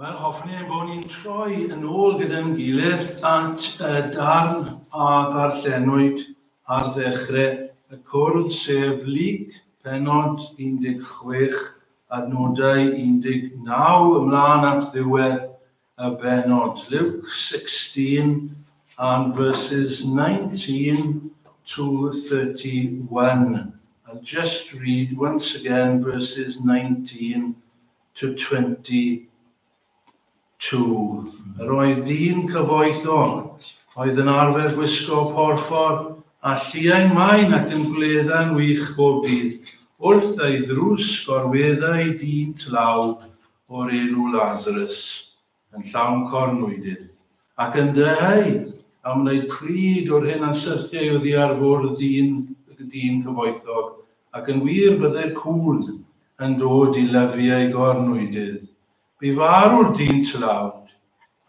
Wel, hoffwn i ein bod ni'n troi yn ôl gyda'n gilydd at y darn a ddarllenwyd ar ddechrau y cwrdd, sef Luc penod 16, adnodau 19 ymlaen at ddiwedd a bennod, Luke 16 and verses 19 to 31. I'll just read once again verses 19 to 22. Yr oedd dyn cyfoethog, oedd yn arfer gwisgo porffor a lliau maen ac yn gwledda'n wych bob dydd, wrth ei ddrws gorweddai dyn tlawd o'r enw Lazarus, yn llawn cornwydydd, ac yn dyheu am wneud pryd o'r hyn a'n syrthiai oddi ar fwrdd dyn y dyn cyfoethog, ac yn wir byddai'r cŵn yn dod i lyfu ei gornwydydd. Bu farw'r dyn tlawd,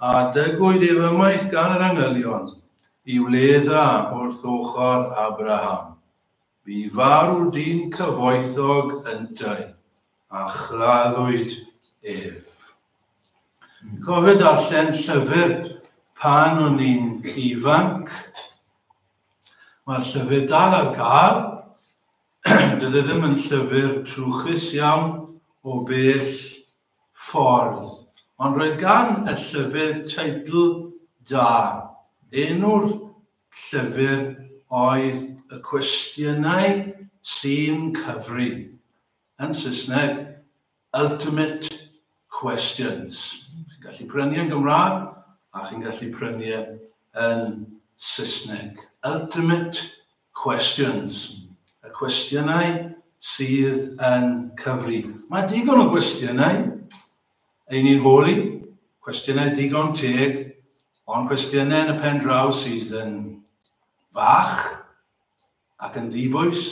a dygwyd ef ymaith gan yr angylion, i wledd dda wrth ochr Abraham. Bu farw dyn cyfoethog yntau, a chraddwyd ef. Cofio darllen llyfr pan o'n i'n ifanc. Mae'r llyfr dal ar gael. Dydy e ddim yn llyfr trwchus iawn o bell ffordd, ond roedd gan y llyfr teitl da, enw'r llyfr oedd Y Cwestiynau Sy'n Cyfri, yn Saesneg, Ultimate Questions. Chi'n gallu prynu yn Gymraeg a chi'n gallu prynu e yn Saesneg. Ultimate Questions. Y cwestiynau sydd yn cyfri. Mae digon o gwestiynau ein ni'n holi, cwestiynau digon teg, ond cwestiynau yn y pen draw sydd yn fach ac yn ddibwys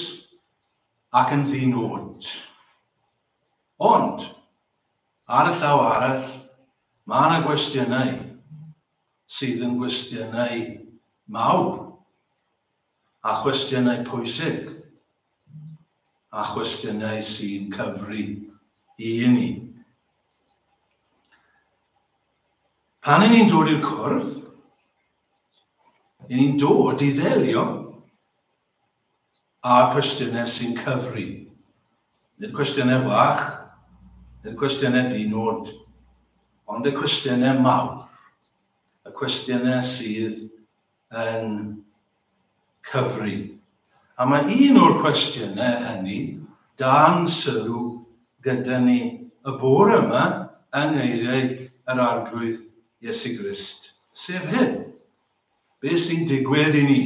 ac yn ddinod. Ond, ar y llaw arall, mae yna gwestiynau sydd yn gwestiynau mawr a chwestiynau pwysig a chwestiynau sy'n cyfri i ni. Pan i ni'n dod i'r cwrdd, i ni'n dod i ddelio A cwestiynau sy'n cyfri. Nid cwestiynau bach, nid cwestiynau di-nod, ond y cwestiynau mawr, y cwestiynau sydd yn cyfri. A mae un o'r cwestiynau hynny dan sylw gyda ni y bore yma yng ngeiriau yr Arglwydd Iesu Grist, sef hyn, Be sy'n digwydd i ni?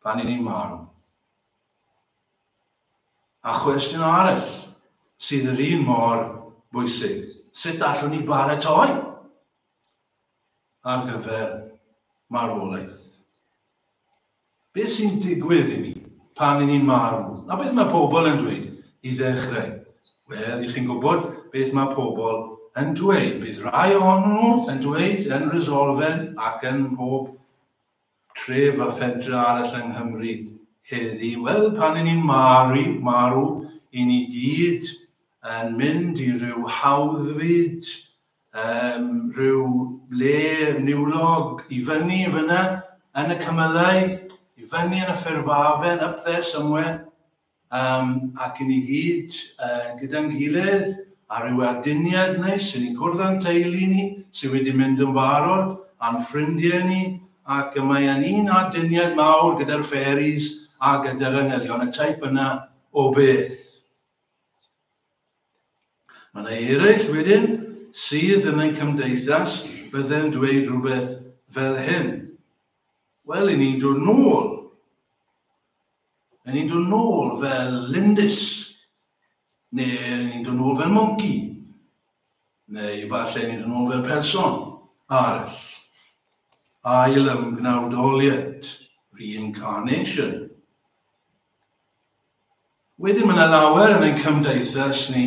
pan i ni'n marw. A chwestiwn arall sydd yr un mor bwysig, sut allwn ni baratoi ar gyfer marwolaeth? Beth sy'n digwydd i ni pan i ni'n marw? A beth mae pobl yn dweud i ddechrau? Wel, i chi'n gwybod beth mae pobl yn dweud. Bydd rhai ohonyn nhw yn dweud yn resolfen ac yn mhob tref a phentre arall yng Nghymru heddi, wel, pan y'n ni'n maru, marw, y'n ni gyd yn mynd i ryw hawdd fyd, yym, ryw le niwlog, i fyny fynna yn y cymylau, i fyny yn y ffurfafen, up there somewhere. Um, ac i ni gyd uh, gyda'n gilydd ar ryw aduniad neis, i ni gwrdd â'n teulu ni sydd wedi mynd yn barod, a'n ffrindiau ni, ac y mae yn un aduniad mawr gyda'r fairies a gyda'r angylion, y teip yna o beth. Mae yna eraill wedyn sydd yn ein cymdeithas bydden dweud rhywbeth fel hyn. Wel, i ni'n dod nôl Yn ni'n dod nôl fel lindys, neu yn ni'n dod nôl fel monci, neu efallai ni'n dod nôl fel person arall. Ail ymgnawdoliad, reincarnation. Wedyn mae yna lawer yn ein cymdeithas ni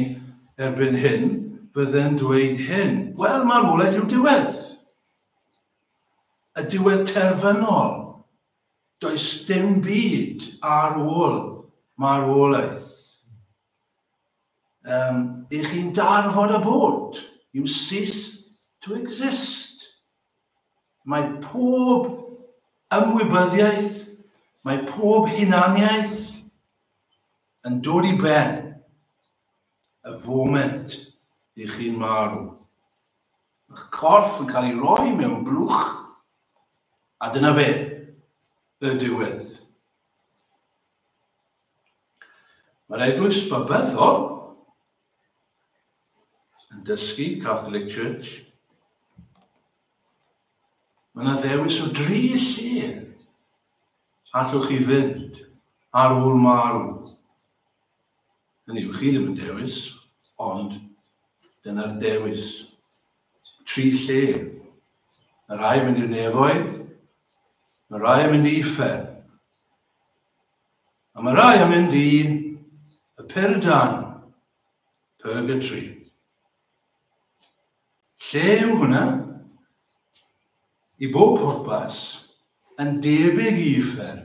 erbyn hyn fydden dweud hyn. Wel, marwolaeth yw diwedd. Y diwedd terfynol. Does dim byd ar ôl marwolaeth. Um, I chi'n darfod a bod. You cease to exist. Mae pob ymwybyddiaeth, mae pob hunaniaeth yn dod i ben y foment i chi'n marw. Mae'ch corff yn cael ei roi mewn blwch, a dyna fe, y diwedd. Mae'r eglwys babyddol yn dysgu, Catholic Church, Mae yna ddewis o dri lle allwch chi fynd ar ôl marw. Hynny yw, chi ddim yn dewis, ond dyna'r dewis. Tri lle. Mae rhai yn mynd i'r nefoedd, mae rhai yn mynd i uffern, a mae rhai yn mynd i y perdan, purgatory. Lle yw hwnna? I bob pwrpas, yn debyg i uffern,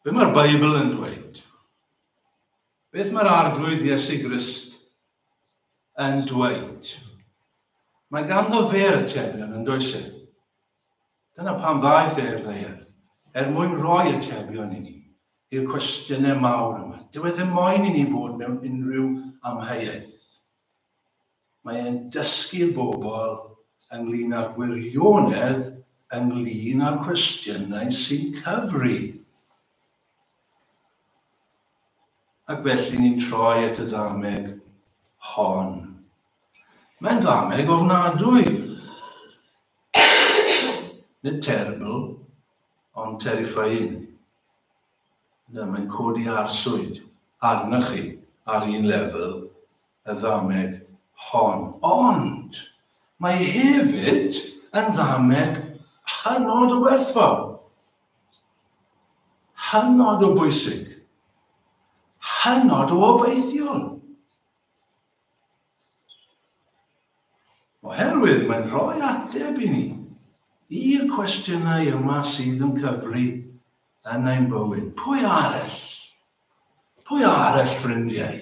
Be mae'r Beibl yn dweud? Beth mae'r arglwydd Iesu Grist yn dweud? Mae ganddo fe'r atebion yn does e? Dyna pam ddaeth e i'r ddeiar, er mwyn roi atebion i ni, i'r cwestiynau mawr yma. Dyw e ddim moyn i ni fod mewn unrhyw amheuaeth. Mae e'n dysgu bobl ynglŷn â'r gwirionedd ynglŷn â'r cwestiynau sy'n cyfri. Ac felly ni'n troi at y ddameg hon. Mae'n ddameg ofnadwy. Nid terrible, ond terrifying. Mae'n codi arswyd arna chi ar un lefel, y ddameg hon, ond mae hefyd yn ddameg hynod o werthfawr, hynod o bwysig, hynod o obeithiol. Oherwydd mae'n rhoi ateb i ni i'r cwestiynau yma sydd yn cyfri yn ein bywyd. Pwy arall Pwy arall, ffrindiau,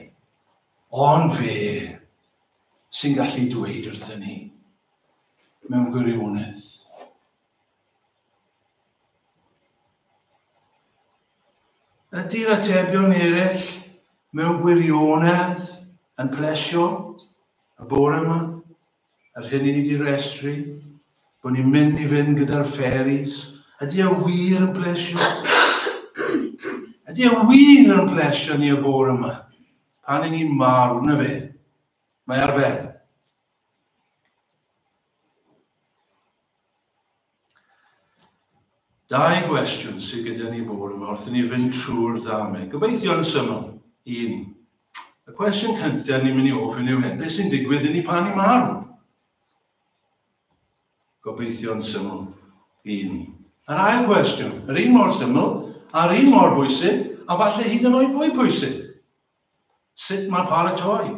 ond fe sy'n gallu dweud wrthyn ni mewn gwirionedd? Ydy'r atebion eraill mewn gwirionedd yn plesio y bore yma? Yr hyn i ni 'di restru, bod ni'n mynd i fynd gyda'r fairies, ydy e wir yn blesio? ydy e wir yn blesio ni y bore yma? Pan i ni'n marw, na fe. Mae ar ben. Dau gwestiwn sydd gyda ni bore yma wrth i ni fynd trwy'r ddamau. Gobeithio yn syml i ni. Y cwestiwn cyntaf ni'n mynd i ofyn yw hyn, beth sy'n digwydd i ni pan ni'n marw? Gobeithio yn syml i ni. Yr ail gwestiwn, yr un mor syml, a'r un mor bwysig, a falle hyd yn oed fwy pwysig. Sut mae paratoi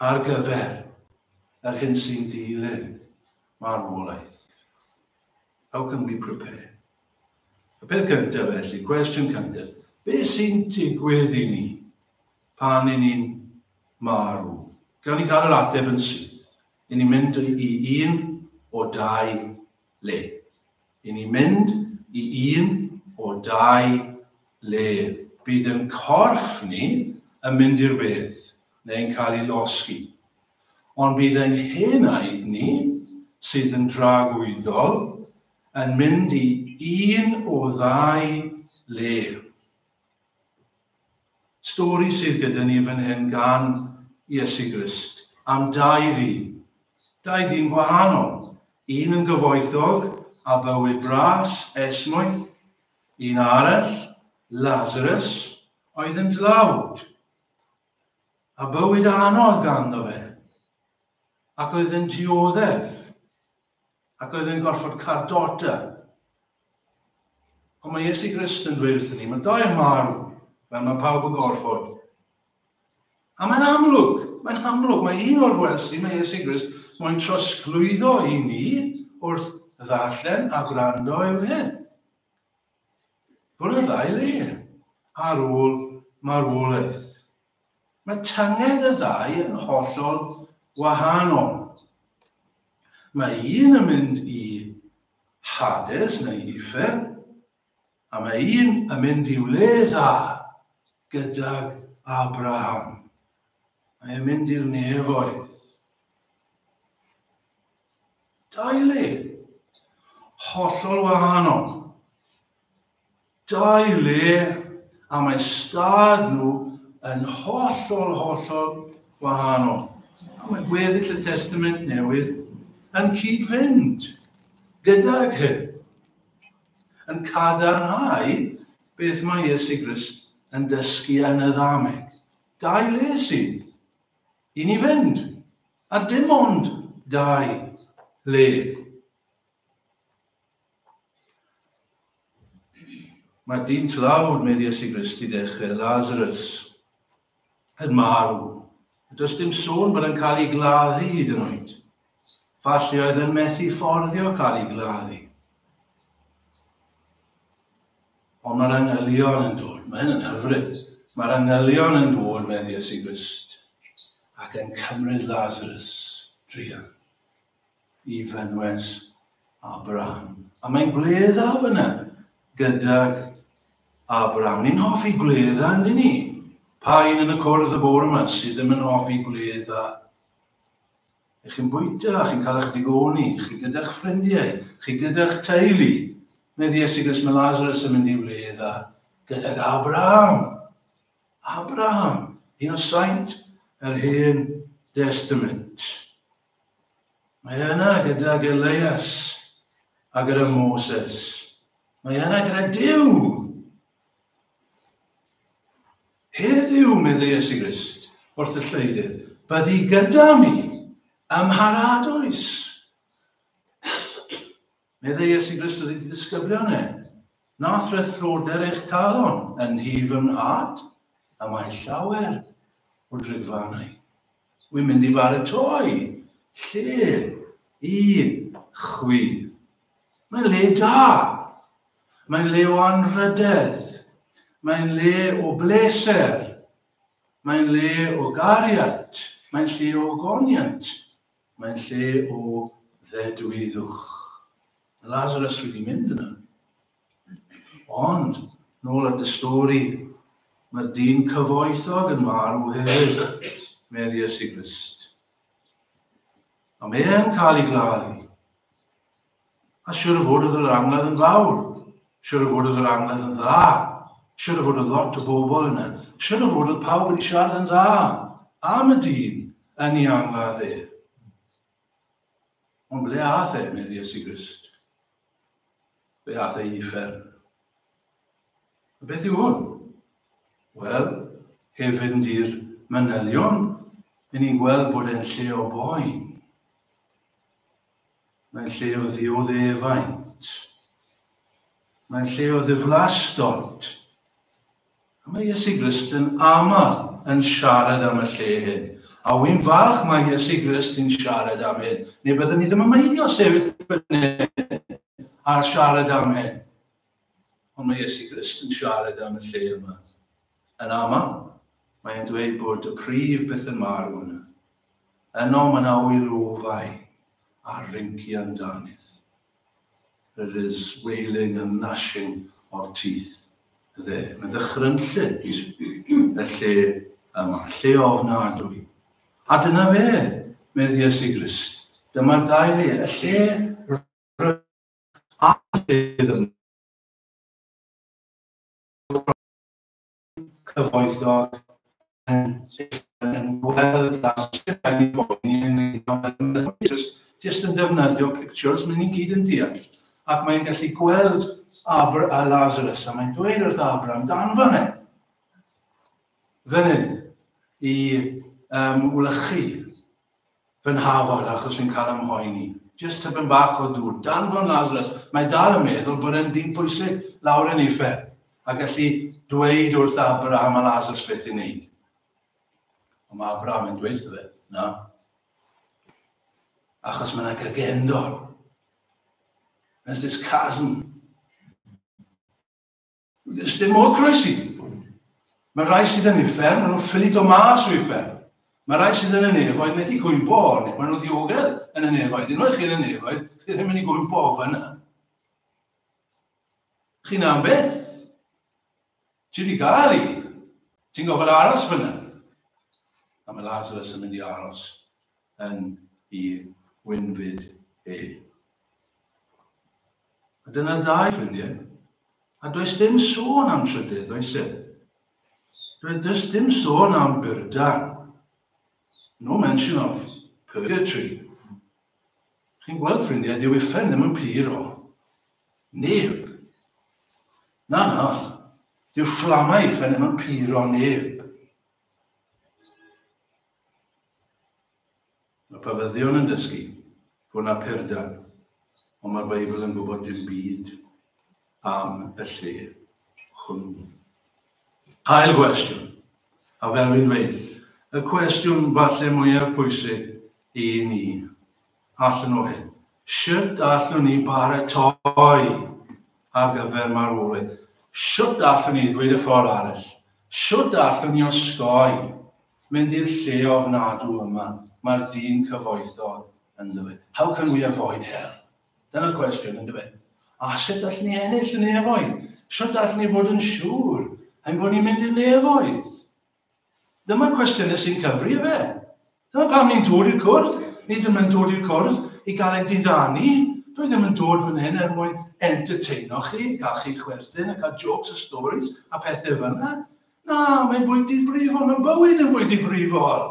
ar gyfer yr hyn sy'n dilyn marwolaeth? How can we prepare? Y peth gyntaf felly, cwestiwn cyntaf, be sy'n digwydd i ni pan i ni'n marw? Gawn ni gael yr ateb yn syth. I ni'n mynd i un o dau le. I ni mynd i un o dau le. Bydd ein corff ni yn mynd i'r wedd neu'n cael ei losgi. Ond bydd ein hen aed ni, sydd yn dragwyddol, yn mynd i un o ddau le. Stori sydd gyda ni fan hyn gan Iesu Grist am dau ddyn. Dau ddyn gwahanol, un yn gyfoethog a bywyd bras, esmwyth, un arall, Lazarus, oedd yn dlawd, a bywyd anodd ganddo fe, ac oedd yn dioddef. Ac oedd e'n gorfod cael dota. Ond mae Iesu Grist yn dweud wrthyn ni, mae dau yn marw, fel mae pawb yn gorfod. A mae'n amlwg, mae'n amlwg, mae un o'r welsi, mae Iesu Grist, mae'n trosglwyddo i ni wrth ddarllen a gwrando yw hyn. Bwrdd ail e ar ôl marwolaeth. Mae tynged y ddau yn hollol wahanol. Mae un yn mynd i Hades neu Uffern, a mae un yn mynd i'w le dda gydag Abraham. Mae e'n mynd i'r nefoedd. Dau le hollol wahanol. dau le a mae stad nhw yn hollol, hollol wahanol. A mae gweddill y Testament Newydd yn cyd-fynd gydag hyn, yn cadarnhau beth mae Iesu Grist yn dysgu yn y ddameg. Dau le sydd i ni fynd, a dim ond dau le. Mae dyn tlawd, medd Iesu Grist, i ddechrau, Lazarus, yn marw. Does dim sôn bod yn cael ei gladdu hyd yn oed. Falle oedd yn methu fforddio cael ei gladdu. Ond mae'r angylion yn dod. Mae hyn yn hyfryd. Mae'r angylion yn dod, medd Iesu Grist, ac yn cymryd Lazarus drian. i fynwes Abraham. A mae'n gwledda fyna gydag Abraham. Ni'n hoffi gwledda, yn ni? Pa un yn y cwrdd y bore yma sydd ddim yn hoffi gwledda? Ych chi'n bwyta, chi'n cael eich digoni, chi gyda'ch ffrindiau, chi gyda'ch teulu. Mae Iesu Gris, mae Lazarus yn mynd i wledda gydag Abraham. Abraham, un o saint yr hen destament. Mae yna gydag Elias a gyda Moses. Mae yna gyda Dyw. Heddiw, meddai Iesu Grist, wrth y lleidir, byddi gyda mi ym mharadoes. Meddai Iesu Grist wrth ei ddisgyblion e, Na threthlwder eich calon yn nhi fy nhad, y mae llawer o drigfannau. Wy'n mynd i baratoi lle i chwi. Mae'n le da. Mae'n le o anrhydedd. Mae'n le o bleser. Mae'n le o gariad. Mae'n lle o goniant. Mae'n lle o ddedwyddwch. Mae Lazarus wedi mynd yna. Ond, nôl at y stori, mae'r dyn cyfoethog yn marw hefyd, meddi y siglist. A mae e'n cael ei gladdu. A siwr o fod oedd yr anwedd yn fawr. Siwr o fod oedd yr anwedd yn dda. Siwr o fod oedd lot o bobl yna. Siwr o fod oedd pawb wedi siarad yn dda am y dyn yn ei anwedd e. Ond ble ath e, medd Iesu Grist? Ble ath e i uffern? A beth yw hwn? Wel, heb fynd i'r manylion, yn ni'n gweld bod e'n lle o boen. Mae'n lle o ddioddefaint. Mae'n lle o ddiflastod. A mae Iesu Grist yn aml yn siarad am y lle hyn. A wy'n falch mae Iesu Grist yn siarad am hyn. Neu byddwn ni ddim yn meiddio sefyll fyny a siarad am hyn. Ond mae Iesu Grist yn siarad am y lle yma. Yn aml, mae e'n dweud bod y prif beth yn marw yna. Yno mae yna ŵyr ofau a rynci amdanydd. There is wailing and gnashing of teeth there. Mae ddychrynllyd y lle yma, lle ofnadwy. A dyna fe, medd Iesu Grist. Dyma'r ddau le, y lle a sydd yn cyfoethog yn gweld a sicrhau bod ni'n gwneud jyst yn defnyddio pictures, mae'n ni'n gyd yn deall. Ac mae'n gallu gweld Abr a Lazarus, a mae'n dweud wrth Abr amdan fan hyn. Fan hyn, i um, wlychu Fy nhafod, achos fi'n cael 'y mhoeni. Jyst tipyn bach o dŵr. Dan Fron Lazarus, mae dal yn meddwl bod e'n dyn pwysig lawr yn uffern, a gallu dweud wrth Abraham a Lazarus beth i wneud. Ond mae Abraham yn dweud wrtho fe, na. Achos mae yna gygendol. There's this chasm. Does dim modd croesi. Mae rhai sydd yn uffern, maen nhw'n ffili do mas o uffern. Mae rhai sydd yn y nefoedd methu gwympo ohoni, maen nhw'n ddiogel yn y nefoedd. Yn oed chi yn y nefoedd, chi ddim yn ei gwympo o fyna. Chi'n am beth? Ti wedi gael i. Ti'n gofod aros fyna. A mae Lazarus yn mynd i aros yn ei wynfyd e. A dyna'r ddau ffrindiau. A does dim sôn am trydydd, oes e? Does dim sôn am byrda. No mention of purgatory. Chi'n gweld ffrindiau, dyw uffen ddim yn pur o. Neb. Na, na. Dyw fflamau uffen ddim yn pur o neb. Mae pafyddion yn dysgu, fo na perdal, ond mae'r Beibl yn gwybod dim byd am y lle hwnnw. Ail gwestiwn, a fel fi'n dweud, y cwestiwn falle mwyaf pwysig i ni allan o hyn. Sut allwn ni baratoi ar gyfer marwolaeth? Sut allwn ni ddweud y ffordd arall? Sut allwn ni osgoi Mynd i'r lle ofnadw yma, mae'r dyn cyfoethog ynddo fe. How can we avoid hell? Dyna'r cwestiwn, ynddo fe. A sut allwn ni ennill y nefoedd? Sut allwn ni fod yn siŵr ein bod ni'n mynd i'r nefoedd? Dyma'r cwestiynau sy'n cyfri fe. Dyna pam ni'n dod i'r cwrdd. Ni ddim yn dod i'r cwrdd i gael ein diddanu. Dwi ddim yn dod fan hyn er mwyn entertaino chi, cael chi chwerthin a cael jokes a stories a pethau fel yna. Na, mae'n fwy difrifol, mae'n bywyd yn fwy difrifol.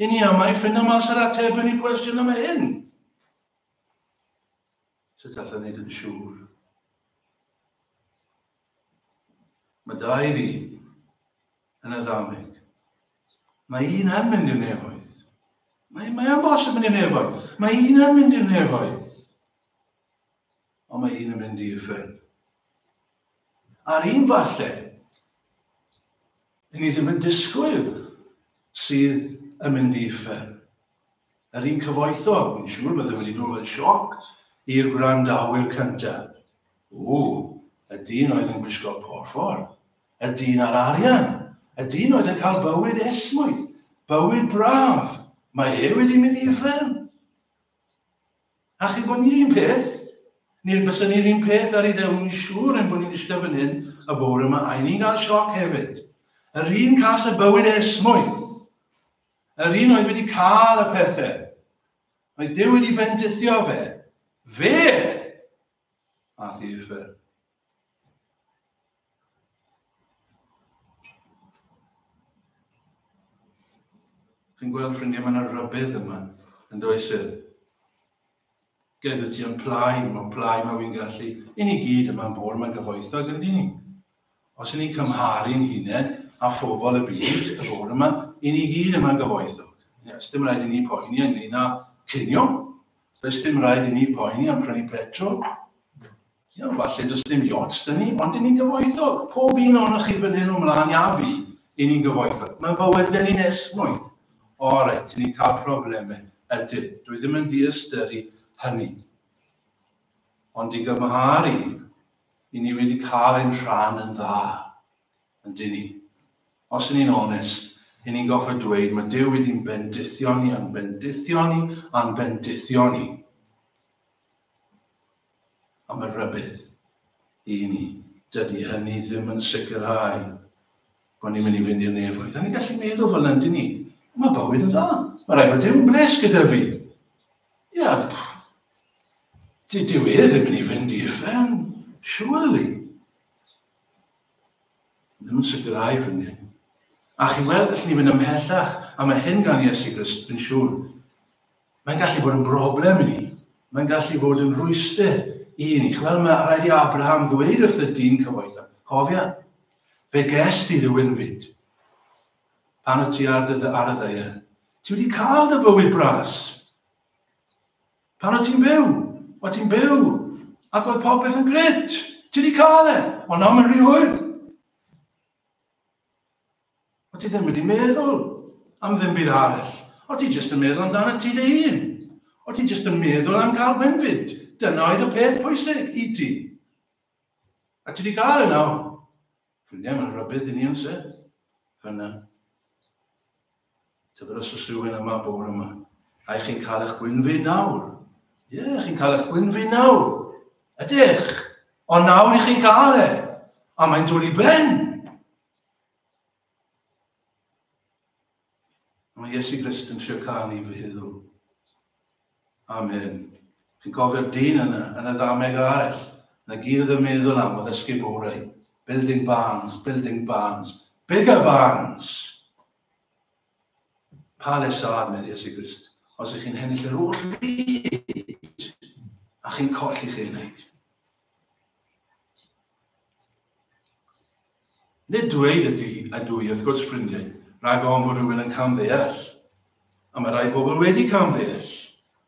I ni am ei ffynnu mas yr ateb yn y cwestiwn yma hyn. Sut allai wneud yn siŵr? Mae da i fi yn y ddameg. Mae un yn mynd i'r nefoedd. Mae, mae am bosib mynd i'r nefoedd. Mae un yn mynd i'r nefoedd. Ond mae hyn yn mynd i uffern. A'r un falle, ni ddim yn disgwyl sydd yn mynd i uffern. Yr un cyfoethog, yn siŵr bydde wedi dod fel sioc i'r gwrandawyr cyntaf. O, y dyn oedd yn gwisgo porffor, y dyn ar arian, y dyn oedd yn cael bywyd esmwyth, bywyd braf, mae e wedi mynd i uffern. A chi bod ni'r un peth? Ni'r bysyn ni'r un peth ar ei ddewn ni siŵr yn bod ni'n eistedd fynydd y bore yma a ni'n gael sioc hefyd. Yr un cas y bywyd esmwyth. Yr un oedd wedi cael y pethau. Mae Dyw wedi bendithio fe. Fe! A thifer. Chi'n gweld ffrindiau, mae yna rybydd yma, yn does e? Gledw ti yn plai, mae plai mae wy'n gallu. I ni gyd yma'n bor mae'n gyfoethog yn dyn. Os i ni'n cymharu'n hunain a phobl y byd y bor yma, i ni gyd yma'n gyfoethog. Yes, dim rhaid i ni poeni ynglyn â cynio. Does dim rhaid i ni poeni am prynu petrol. Iawn, falle does dim yachts da ni, ond 'y ni'n gyfoethog. Pob un ohonoch chi fan hyn o mlaen a fi, 'y ni'n gyfoethog. Mae bywydau ni'n esmwyth. O reit, 'y ni'n cael problemau. Ydyn. Dw i ddim yn diystyru hynny. Ond i gymharu, 'y ni wedi cael ein rhan yn dda. Ydyn ni. Os 'y ni'n onest, 'y ni'n goffa dweud mae Duw wedi'n bendithio ni, a'n bendithio ni, a'n bendithio ni. a mae'n rhybudd i ni. Dydy hynny ddim yn sicrhau bod ni'n mynd i fynd i'r nefoedd. Da ni'n gallu meddwl fel yna, dyn ni. Mae bywyd yn dda. Mae rhaid bod Dew'n bles gyda fi. Ia, Dwi dyw e ddim yn ei fynd i uffern, surely. Ddim yn sicrhau fy ni. A chi weld, allwn ni fynd ymhellach, a mae hyn gan Iesu Grist yn siŵr. Mae'n gallu bod yn broblem i ni. Mae'n gallu bod yn rwyster i ni. Wel, mae rhaid i Abraham ddweud wrth y dyn cyfoethog, cofia, fe ges di rhywun fyd. Pan y ti ar, ar y ddeir, ti wedi cael dy fywyd bras. Pan o ti'n byw, o ti'n byw, ac oedd popeth yn gret. Ti wedi cael e, ond nawr mae'n rhy hwyr. O ti ddim wedi meddwl am ddim byd arall. O ti jyst yn meddwl amdana ti dy hun. O ti jyst yn meddwl am gael benfyd. Dyna oedd y peth pwysig i ti. A ti wedi cael yna. Ffrindiau, mae'n rhybydd i ni yn se. Fyna. Tybed os oes rhywun yma bore yma. A chi'n cael eich gwynfyd nawr. Ie, yeah, chi'n cael eich gwynfyd nawr. Ydych. Ond nawr i chi'n cael e. A mae'n dod i ben. Mae Iesu Grist yn trio cael ni fy huddo. Amen. Chi'n cofio'r dyn yna, yn y ddameg arall, na gyd oedd yn meddwl am oedd esgub orau. Building barns, building barns, bigger barns! Pa lesad, meddwl Iesu Grist, os ych chi'n hennill yr oll fyd, a chi'n colli chi'n enaid. Nid dweud ydw i, ydw i, wrth gwrs, ffrindiau, rhag ofn bod rhywun yn camddeall. A mae rhai pobl wedi camddeall.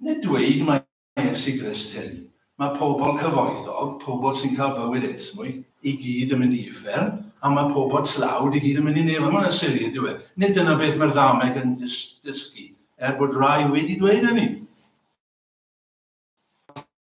Nid dweud mae Iesu Grist hyn. Mae pobl cyfoethog, pobl sy'n cael bywyd esmwyth, i gyd yn mynd i uffern, a mae pobl tlawd i gyd yn mynd i nefel. Mae'n sili, ydyw e? Nid dyna beth mae'r ddameg yn dysgu, er bod rhai wedi dweud hynny.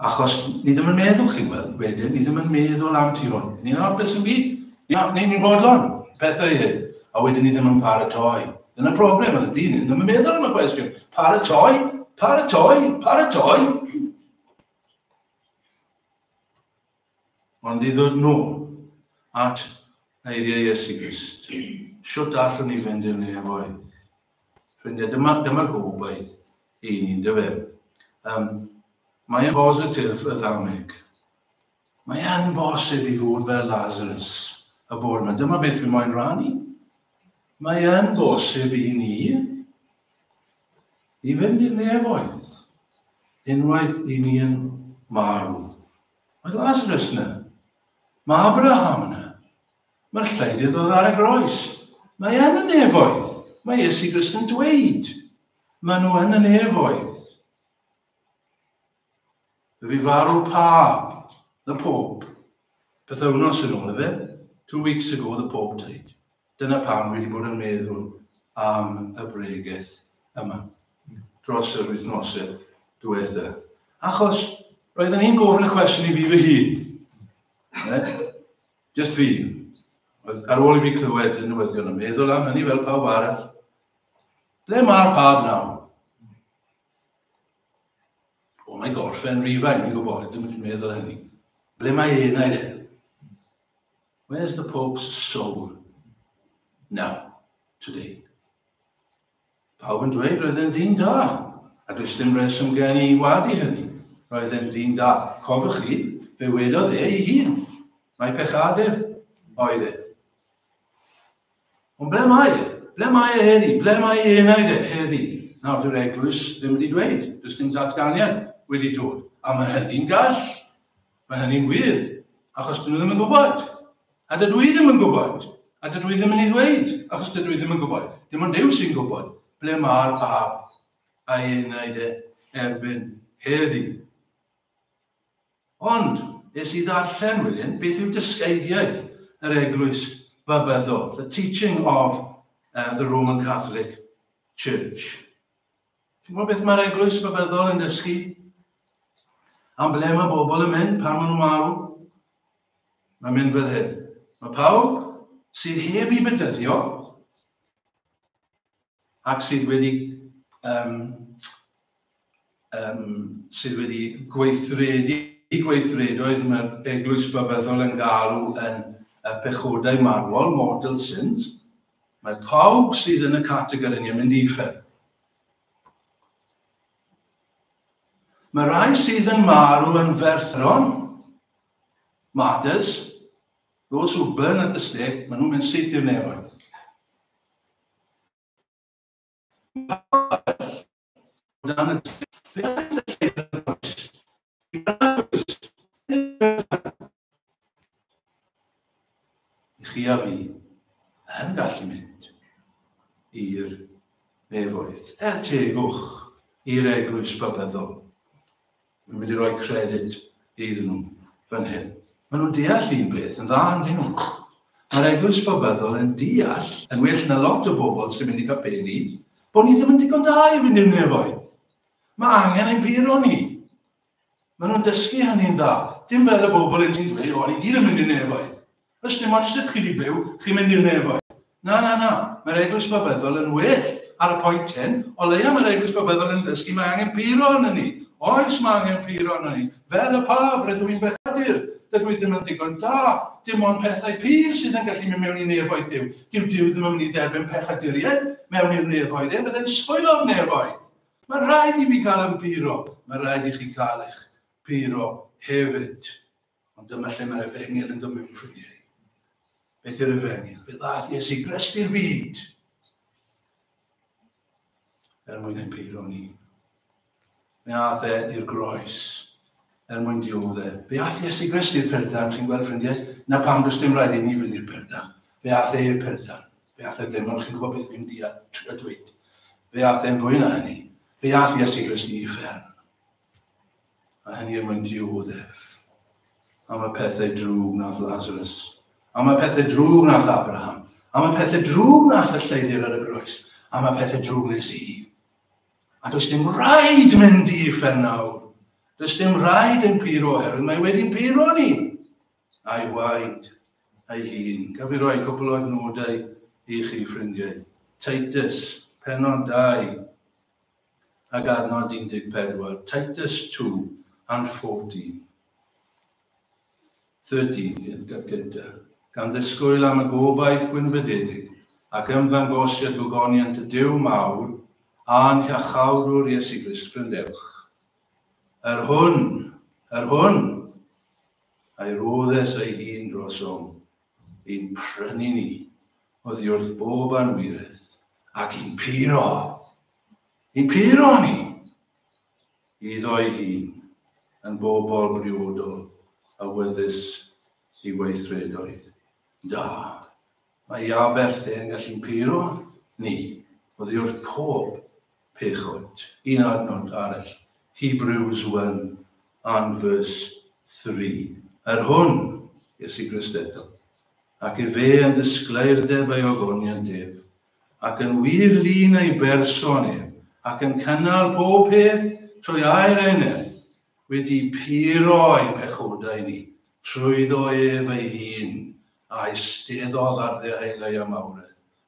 Achos ni ddim yn meddwl chi, wel, wedyn, ni ddim yn meddwl am ti hwn. Ni'n hapus yn byd. Ia, ni'n ni fodlon, pethau hyn. A wedyn ni ddim yn paratoi. Dyna broblem, oedd y dyn hyn ddim yn meddwl am y cwestiwn. Paratoi, paratoi, paratoi. Ond i ddod nôl at eiriau Iesu Grist, shwt allwn ni fynd i'r nef oedd? Ffrindiau, dyma, dyma'r gobaith i ni, dy fe. Um, mae yn bositif y ddameg. Mae yn bosib i fod fel Lazarus y bore yma. Dyma beth fi moyn rannu. Mae yn bosib i ni i fynd i'r nefoedd unwaith i ni yn marw. Mae Lazarus yna. Mae Abraham yna. Mae'r lleiddydd oedd ar y groes. Mae yn y nefoedd. Mae Iesu Grist yn dweud. Mae nhw yn y nefoedd. Fe fi farw pa, the Pope. Pethau wnos yn ôl efe. Two weeks ago, the Pope died. Dyna pam dwi wedi bod yn meddwl am y bregeth yma dros yr wythnosau diwetha. Achos roeddwn i'n gofyn y cwestiwn i fi fy hun. Ne? Just fi. Oedd ar ôl i fi clywed y newyddion yn meddwl am hynny fel pawb arall. Ble mae'r pab nawr? O, mae gorffen rifau, ni'n gwybod, ydym yn meddwl hynny. Ble mae enau e? Where's the Pope's soul now, today? Pawb yn dweud roedd e'n ddyn da, a does dim reswm gen i wadu hynny. Roedd e'n ddyn da. Cofwch chi, fe wedodd e ei hun. Mae pechadydd oedd e. Ond ble mae e? Ble mae e heddi? Ble mae e enaid e heddi? Nawr, dyw'r eglwys ddim wedi dweud. Does dim datganiad wedi dod. A mae hynny'n gall. Mae hynny'n wir, achos dyn nhw ddim yn gwybod. A dydw i ddim yn gwybod. A dydw i ddim yn ei ddweud, achos dydw i ddim yn gwybod. Dim ond Duw sy'n gwybod ble mae'r bab a'i enaid e erbyn heddi. Ond, es i ddarllen wedyn, beth yw dysgeidiaeth yr eglwys babyddol, the teaching of uh, the Roman Catholic Church. Chi'n gwybod beth mae'r eglwys rhyfeddol yn dysgu? Am ble mae bobl yn mynd pan maen nhw'n marw? Mae'n mynd fel hyn. Mae pawb sydd heb i bedyddio ac sydd wedi um, um, sydd wedi gweithredu i gweithredoedd mae'r eglwys byfeddol yn galw yn y pechodau marwol, mortal sins, Mae pawb sydd yn y categori yn mynd i ffyrdd. Mae rhai sydd yn marw yn ferthron, martyrs, those who burn at the stake, maen nhw'n mynd syth i'r nefoedd. O dan y chi a fi yn gallu mynd i'r nefoedd. Er tegwch i'r eglwys bybyddol. Mae'n mynd i roi credyd iddyn nhw fan hyn. Mae nhw'n deall un beth yn dda yn hyn. Mae'r eglwys bobyddol yn deall, yn well na lot o bobl sy'n mynd i capeli, bod ni ddim yn ddigon da i fynd i'r nefoedd. Mae angen ein puro ni. Mae nhw'n dysgu hynny'n dda. Dim fel y bobl yn ti'n dweud, o'n i gyd yn mynd i'r nefoedd. Does dim ots lle chi di byw, chi'n mynd i'r nefoedd. Na, na, na, mae'r Eglwys Babyddol yn well ar y pwynt hyn, o leia mae'r Eglwys Babyddol yn dysgu mae angen puro yn ni. Oes, mae angen puro yn ni. Fel y pab, rydw i'n bechadur. Dydw i ddim yn ddigon da. Dim ond pethau pur sydd yn gallu mynd mewn i nefoedd Dyw. Dyw Dyw ddim yn mynd i dderbyn pechaduriaid mewn i'r nefoedd, e bydde'n sbwylo'r nefoedd. Mae'n rhaid i fi gael yn puro, mae'n rhaid i chi gael eich puro hefyd. Ond dyma lle mae'r efengyl yn dod mewn ffrindiau. Beth yw'r efengyl? Fe ddath Iesu Grist i'r byd. Er mwyn ein peiro ni. Fe ath e i'r groes. Er mwyn diodd e. Fe ath Iesu Grist i'r perdan, chi'n gweld ffrindiau? Na pam does dim rhaid i ni fynd i'r perdan. Fe ath e i'r perdan. Fe ath e ddim, ond chi'n gwybod beth fi'n dweud. Fe ath e'n fwy na hynny. Fe ath Iesu Grist i uffern. A hynny er mwyn dioddef am y pethau drwg nath Lazarus, am y pethau drwg nath Abraham, am y pethau drwg nath y lleidir ar y groes, am y pethau drwg nes i. A does dim rhaid mynd i uffern nawr. Does dim rhaid yn puro oherwydd mae wedi'n puro ni. A'i waed, a'i hun. Gaf i roi cwpl o adnodau i chi, ffrindiau. Titus, penon 2, ag adnod 14, Titus two and fourteen, thirteen, i'r gad gyntaf, gan ddisgwyl am y gobaith gwynfydedig ac ymddangosiad gogoniant y Duw mawr a'n Hiachawdwr Iesu Grist, grandewch. Yr hwn, yr hwn, a'i roddes ei hun drosom. Ein prynu ni oddiwrth bob anwiredd, ac yn puro, yn puro ni, iddo'i hun, yn bobl briodol a wyddys i weithredoedd da. Mae Aberth yn gallu'n puro ni oddiwrth pob Pechod. Un adnod arall, Hebrews one and verse three, Yr hwn, Iesu Grist eto, ac efe yn ddisglaerdeb ei ogoniant ef, ac yn wir lun ei berson ef, ac yn cynnal pob peth trwy air ei nerth, wedi puro ein pechodau ni, trwyddo ef ei hun, a eisteddodd ar ddeheuleu am awredd,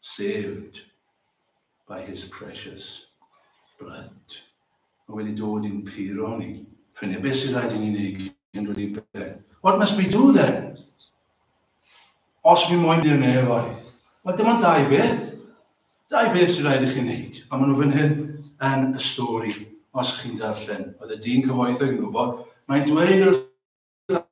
Saved by his precious blood. Mae wedi dod i'n puro ni. Ffrindiau, beth sy'n rhaid i ni wneud cyn dod i beth? What must we do then? Os mi moyn i'r nefoedd. Wel, dyma dau beth. Dau beth sy'n rhaid i chi wneud. A maen nhw fan hyn yn y stori, os chi'n darllen. Oedd y dyn cyfoethog yn gwybod. Mae'n dweud wrth